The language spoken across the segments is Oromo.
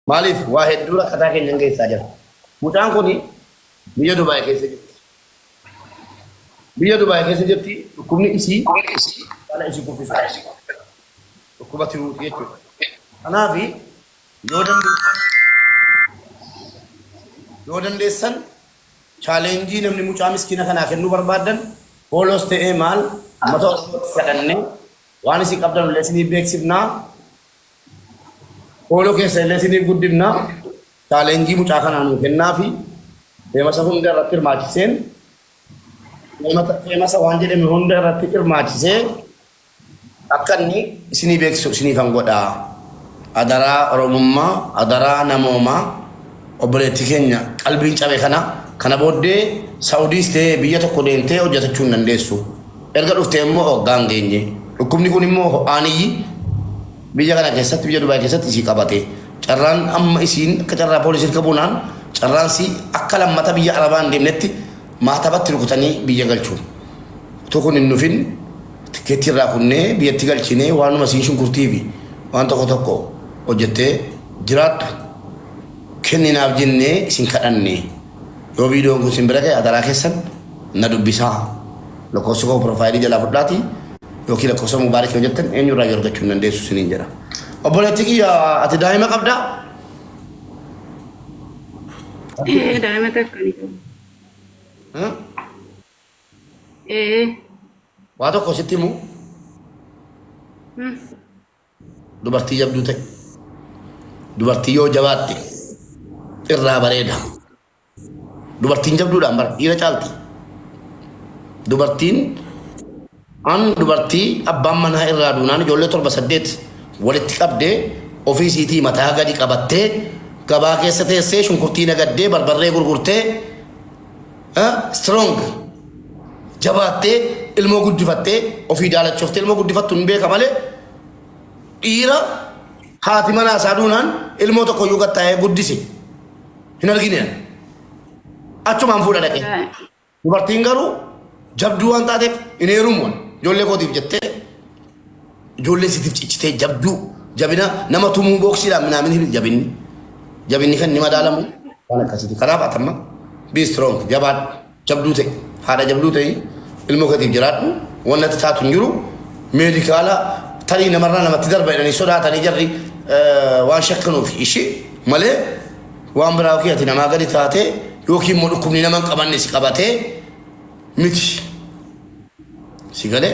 Maaliif waa hedduu rakkataa keenyan keessaa jira. Mucaan kun biyya Dubaay keessa jirti. Biyya Dubaay keessa jirti dhukkubni isii kana isii kuffisu. Dhukkuba tiruuti jechuudha. Kanaaf yoo dandeessan yoo dandeessan chaaleenjii namni mucaa miskiina kanaa kennuu barbaaddan hoolos ta'ee maal uummata Oromootti kadhannee waan isin qabdan illee isinii beeksifnaa Foolo keessa illee siniif guddifna. Challenge mucaa kanaa nuu kennaafi. Feemasa hunda irratti hirmaachiseen feemata- feemasa waan jedhame hunda irratti hirmaachisee akka inni isinii beeksisu isiniifan godhaa. Adaraa Oromummaa, adaraa namoomaa. Obboleetti keenya qalbiin cabe kana kana booddee Sa'udiis ta'ee biyya tokko deemtee hojjatachuu hin dandeessu. Erga dhuftee immoo waggaa hin geenye. Dhukkubni kun immoo ho'aan iyyi biyya kana keessatti biyya Dubaay keessatti isii qabate. Carraan amma isiin akka carraa poolisii irka buunaan carraan isii akka lammata biyya Arabaa hin deemnetti maatabatti rukutanii biyya galchu. Utuu kun hin dhufin tikkeettii irraa kunnee biyyatti galchinee waanuma isiin shunkurtii fi waan tokko tokko hojjettee jiraattu. kenninaaf jennee isin kadhanne. Yoo viidiyoon kun isin bira ga'e adaraa keessan na dubbisaa. Lakkoofsa koo piroofaayilii jalaa fudhaatii yookiin lakkoofsa mubaarik yoo jettan eenyurraa yoo argachuu hin dandeessu isiniin jedha. Obboleettii kiyya ati daa'ima qabdaa? Ee daa'ima takka ni qabu. Hmm? Ee. Waa tokko sitti himu Hmm. Dubartii jabduu ta'i. Dubartii yoo jabaatte irraa bareeda. Dubartiin jabduudhaan bara dhiira caalti. Dubartiin an dubartii abbaan manaa irraa duunaan ijoollee torba saddeet walitti qabdee ofii isiitii mataa gadi qabattee gabaa keessa teessee shunkurtii nagaddee barbarree gurgurtee Eh, strong jabaattee ilmoo guddifattee ofii daalachoftee ilmoo guddifattu hin beeka malee dhiira haati manaa isaa duunaan ilmoo tokko iyyuu gattaa'ee guddise hin argine ani. achumaan fuudha dhaqee dubartiin garuu jabduu waan taateef hin heerumu ani. ijoollee kootiif jettee Ijoollee sitif cichitee jabduu jabina nama tumuu booksiidhaan minaamin himi jabinni jabinni kan ni madaalamu waan akkasiiti kanaaf atamma be strong jabaadhu jabduu ta'e haadha jabduu ta'e ilmoo katiif jiraadhu wannatti taatu hin jiru meedikaala tarii namarraa namatti darba jedhanii sodaatanii jarri waan shakkanuuf ishii malee waan biraa ofii ati namaa gadi taatee yookiin immoo dhukkubni nama hin qabanne si qabatee miti si galee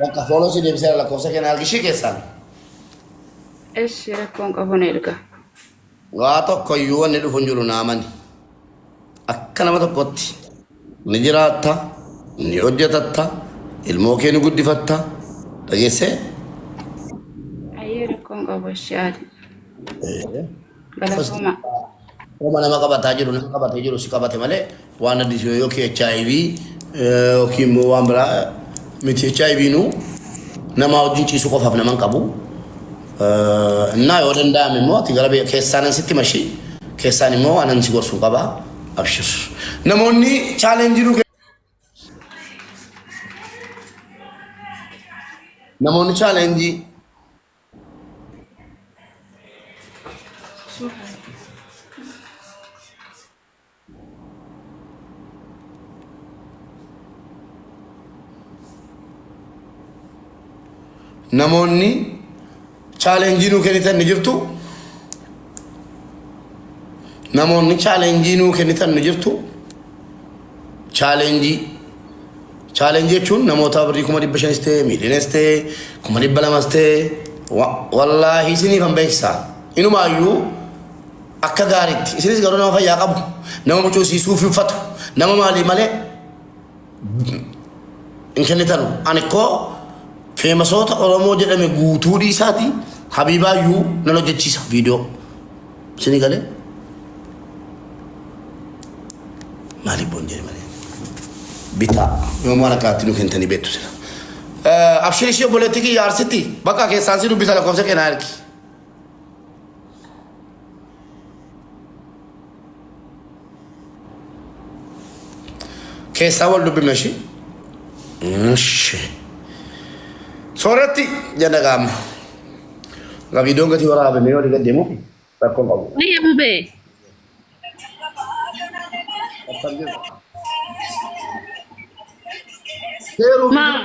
Bakka fooloo si deebiseera lakkoofsa kee naa argishii keessaan. Eshi rakkoon qabu na erga. Waa tokko iyyuu wanni dhufu hin jiru naamani akka nama tokkotti. Ni jiraatta, ni hojjatatta, ilmoo kee ni guddifatta, dhageessee? Ayyee rakkoo hin qabu ishee haati. Ee. Galatoomaa. Homa nama qabataa jiru nama qabatee jiru si qabate malee Waan addis yoo yookiin HIV yookiin immoo waan biraa miti HIV nu namaa wajjin ciisuu qofaaf naman qabu. Innaa yoo danda'ame immoo ati gara biyya keessaanan sitti mashi keessaan immoo waanan si gorsu qaba. Abshir. Namoonni chaalenjii nu namoonni chaalenjii namoonni chaalenjii nuu kennitan ni jirtu namoonni chaalenjii nuu kennitan ni jirtu chaalenjii chaalenjii jechuun namoota birrii kuma dhibba shanis ta'e miiliyonas ta'e kuma dhibba lamas ta'e wa- wallaahi isiniif hin beeksisaa inumaayyuu Akka gaariitti. Isinis garuu nama fayyaa qabu, nama mucuu isii suufii uffatu, nama maalii malee hin kennitanu. Ani koo feemasoota Oromoo jedhame guutuu dhiisaati Habiibaa iyyuu nan hojjechiisa viidiyoo. Isinii galee? Maaliif boon jedhe malee? Bitaa. Yoomuu waan akkaatti nu kentanii beektu sila. Abshirii ishee obboleettii kiyya arsitti bakka keessaan si dubbisa lakkoofsa keenaa ergi. keessaa wal dubbifna ishii. Ishi. Sooratti jedha qaama. Egaa viidiyoon gatii waraabame yoo dhiga deemu rakkoo qabu. Wayya bubee. Seeruu Maa.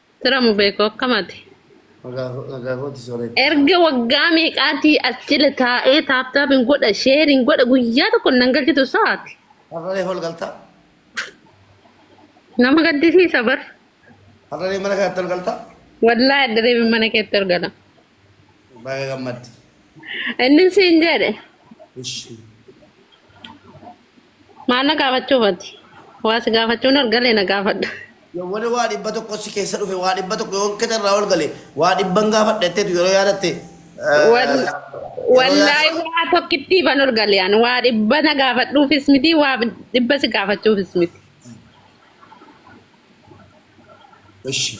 Sira mubeeko akkam ati? Nagaa kooti soreeti. Erga waggaa meeqaatii as jila taa'ee taaptaapiin godha sheeriin godha guyyaa tokko nan galchitu sa'aati. Har'alee hol galtaa? Nama gaddisiisa bar. Har'alee mana kanatti hol galtaa? Wallaa adda deebiin mana keetti argala. Baga gammadde. Inni siin jedhe Ishi. Maal na gaafachuuf ati? Waa si gaafachuun ol gale na gaafadhu. Yawwani waa dhibba tokko si keessa dhufe waa dhibba tokko yoon qixa irraa ol gale waa dhibban gaafadha jetteetu yeroo yaadatte Wal- yeroo yaadatte Wallaahi waa tokkittii ban ol gale ani waa dhibba na gaafadhuufis miti waa dhibba si gaafachuufis miti. Ishi.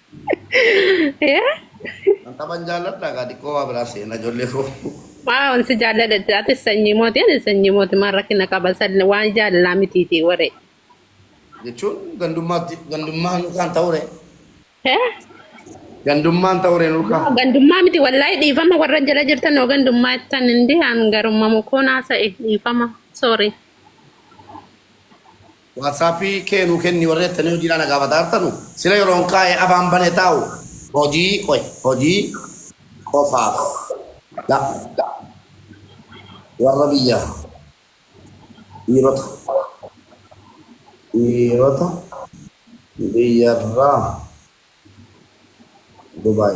Yaa. An taban jaalladha gaa xiqqoo waa biraa seena ijoollee koo. Waaw si jaalladha ati sanyii mooti ani sanyii mooti maal rakkina qaba salli waan jaalalaa mitiiti waree. Jechuun gandummaatti gandummaa nukaan ta'ure. Hee? Gandummaan ta'ure nukaa. Noo gandummaa miti wallaahi dhiifama warra jala jirtan noo gandummaa ittan hindi an garummamu koo naasa'e dhiifama sorry. WhatsApp kee nuu kenni warri attanii hojiidhaa na gaafataa jirtanu sila yeroon kaa'e afaan bane taa'u hojii qoy hojii qofaaf dha warra biyya dhiirota dhiirota biyyarraa Dubai.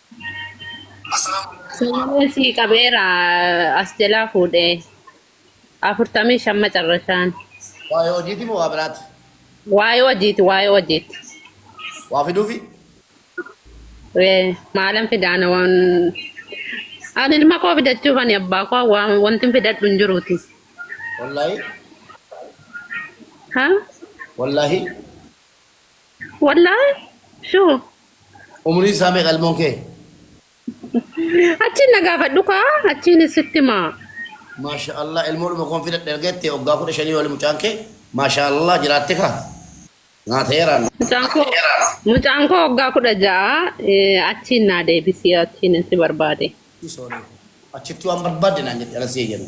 Sagalee sii qabeera as jalaa fuudhee afurtamii shan macarrashaan Waa'ee hojiiti moo waa biraati? waa'ee hojiiti waa'ee hojiiti Waa fiduufi? Ee, maalan fidaana waan ani ilma koo fidachuuf ani abbaa koo waan wanti hin fidadhu hin jiruuti Wallaahi? ha Wallaahi? Wallahi shuu. Umriin isaa meeqa ilmoon kee? Achiin na gaafadhu kaa achiin sitti himaa. Maasha Allah ilmoodhuma koon fidadhe erga jettee waggaa kudha shanii oli mucaan kee maasha Allah jiraatte kaa naa ta'eeraan. Mucaan koo mucaan koo waggaa kudha ja'a eh, achiin naa deebisii achiin si barbaade. Ishii sooree koo achitti waan barbaadde naan jette ala si eeyyame.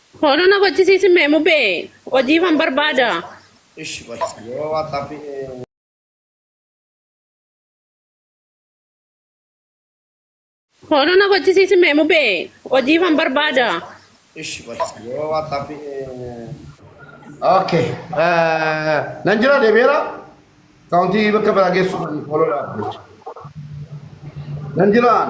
Follow na gochisiisi mee mubee hojiifan barbaada. Ishi qoy yoo WhatsApp Follow na gochisiisi mee mubee hojiifan barbaada. Ishi qoy yoo WhatsApp Okay. eh, Nan jira deebi'eera. Kaawuntii bakka biraa geessu kan follow dhaaf jecha. Nan jiraan.